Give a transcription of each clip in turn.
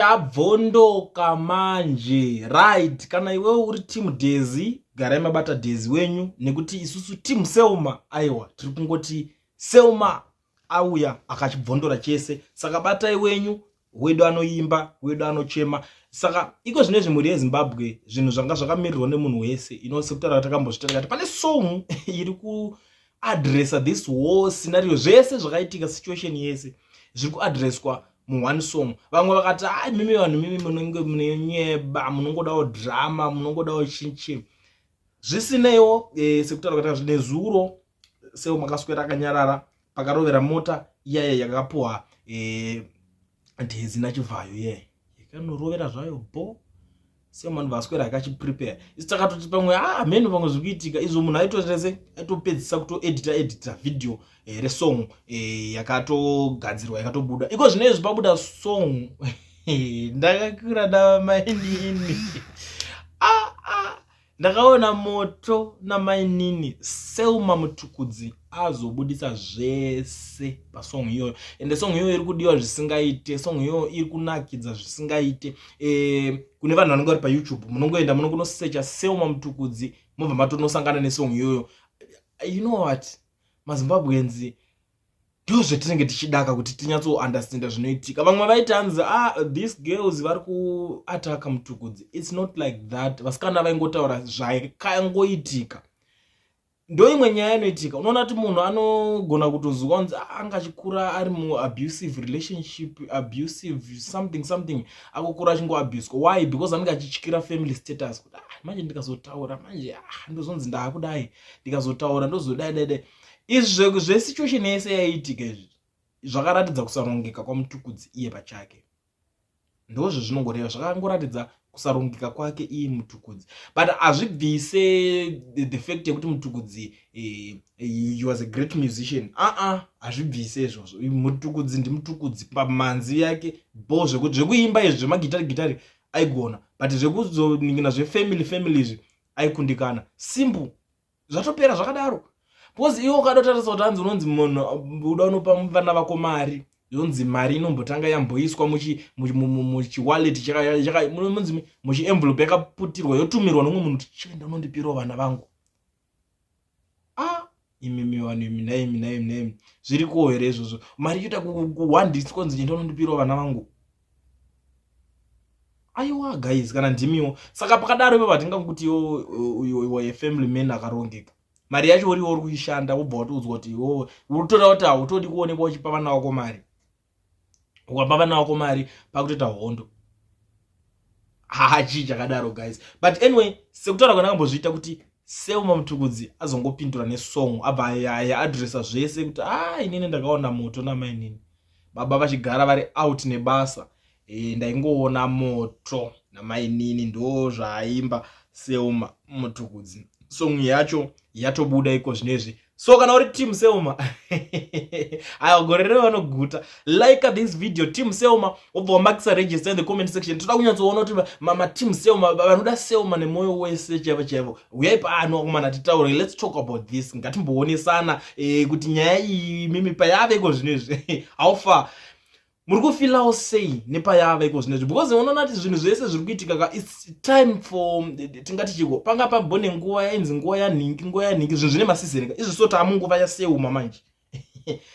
tabvondoka manje right kana iwe uri team dezi garai mabata dezi wenyu nekuti isusu team selma aiwa tiri kungoti selma auya akachibvondora chese saka batai wenyu wedu anoimba wedu anochema saka iko zvine zvimhuri yezimbabwe zvinhu zvanga zvakamirirwa nemunhu wese ino sekutaura takambozvitarakati pane song iri kuadressa this war scenario zvese zvakaitika situation yese zviri kuadresswa mu one song vamwe vakati a ah, mimi vanhu mimi munenge munenyeba munongodawo drama munongodawo chinchi zvisineiwo e, sekutaura kuita zvine zuro seo makaswera akanyarara pakarovera mota iyaya yakapuwa e, eh, dhezi nachivhayo iye yakanorovera zvayo bho semunhu vaswera akachiprepare isi takatoti pamwe ah, hameno pamwe zviri kuitika izvo munhu aitoese aitopedzisa kutoedita edita video eh, resong eh, yakatogadzirwa yakatobuda iko zvino izvi pabuda song ndakakura namainini ah, ah. ndakaona moto namainini selma mutukudzi azobudisa zvese pasong iyoyo ende song iyoyo iri kudiwa zvisingaite song iyoyo iri kunakidza zvisingaite e, kune vanhu vanenge vari payoutube munongoenda munongonosecha selma mutukudzi mobva matonosangana nesong iyoyo you know what mazimbabweans ndo zvatinenge tichidaka kuti tinyatsounderstanda zvinoitika vamwe vaiti hanzi ah, these girls vari kuataka mutukudzi its not like that vasikana vaingotaura zvakangoitika ndoimwe nyaya inoitika unoona kuti munhu anogona kutozuka kunzi ah, anga achikura ari muabusive relationship abusive something something akukura achingoabuswa why because anenge achityira family status kuti ah, manje ndikazotaura manje ah, ndozonzi ndaakudai ndikazotaura ndozodai dai dai izvi zvesituation yese yaiitika izvi zvakaratidza kusarongeka kwamutukudzi iye pachake ndozvo zvinongoreva zvakangoratidza kusarongeka kwake iye mutukudzi but hazvibvise the, the fact yekuti mutukudzi eh, eh he was a great musician aa hazvibvise izvozvo mutukudzi ndimutukudzi pamanzi yake bo zvekuti zvekuimba izvi zvemagitari gitari aigona but zvekuzoningina zvefamily family izvi aikundikana simple zvatopera zvakadaro because iwe ukadotarisa kuti hanzi unonzi munhu uda unopa vana vako mari yonzi mari inombotanga yamboiswa muchiwallet munzi muchienvelope yakaputirwa yotumirwa nomwe munhu kuti chienda unondipirawo vana vangu a ah, imimi vanhu imi naimi naimi naimi zviri kuwo here izvozvo mari yoita kuwandiswa kunzi chienda unondipirawo vana vangu aiwa guys kana ndimiwo saka pakadaro ivo vatingakuti iwe family man akarongeka mari yacho uriwo uri kuishanda wobva watiudzwa kuti iwo utoda kuti hautodi kuonekwa uchipa vana wako mari ukapa vana wako mari pakutoita hondo hachii chakadaro guys but anyway sekutaura kwanakambozviita kuti seuma mutukudzi azongopindura nesong abva aadressa zvese kuti a ah, inini ndakaona moto namainini baba vachigara vari out nebasa e, ndaingoona moto namainini ndo zvaaimba selma mutukudzi song yacho yatobuda iko zvinezvi so kana uri team selma aya gore rero vanoguta like this video team selma obva wamakisa register in the comment section toda kunyatsoona kuti mateam selma vanoda selma nemwoyo wese chaivo chaivo huyai pano akomana titaure let's talk about this ngatimboonesana eh, kuti nyaya iyi mimi payave iko zvino izvi how far muri kufilawo sei nepayava iko zvino izvi because unoona kuti zvinhu zvese zviri kuitika ka its time for tingati chiko panga pambone nguva yainzi nguva yanhingi nguva yanhingi zvinhu zvine masizeni ka izvi so taamunguva yaseuma manje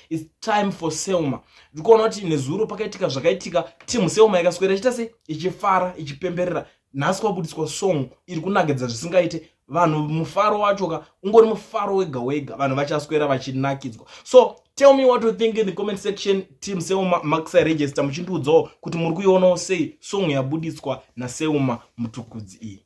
its time for selma ndikuona kuti nezuro pakaitika zvakaitika timu selma ikaswera ichiita se ichifara ichipemberera nhasi kwabudiswa song iri kunakidza zvisingaite vanhu mufaro wacho ka ungori mufaro wega wega vanhu vachaswera vachinakidzwa so tell me what you think in the comment section team seuma maxi register muchindiudzawo kuti muri kuionawo sei song yabuditswa naseuma mutukudzi iyi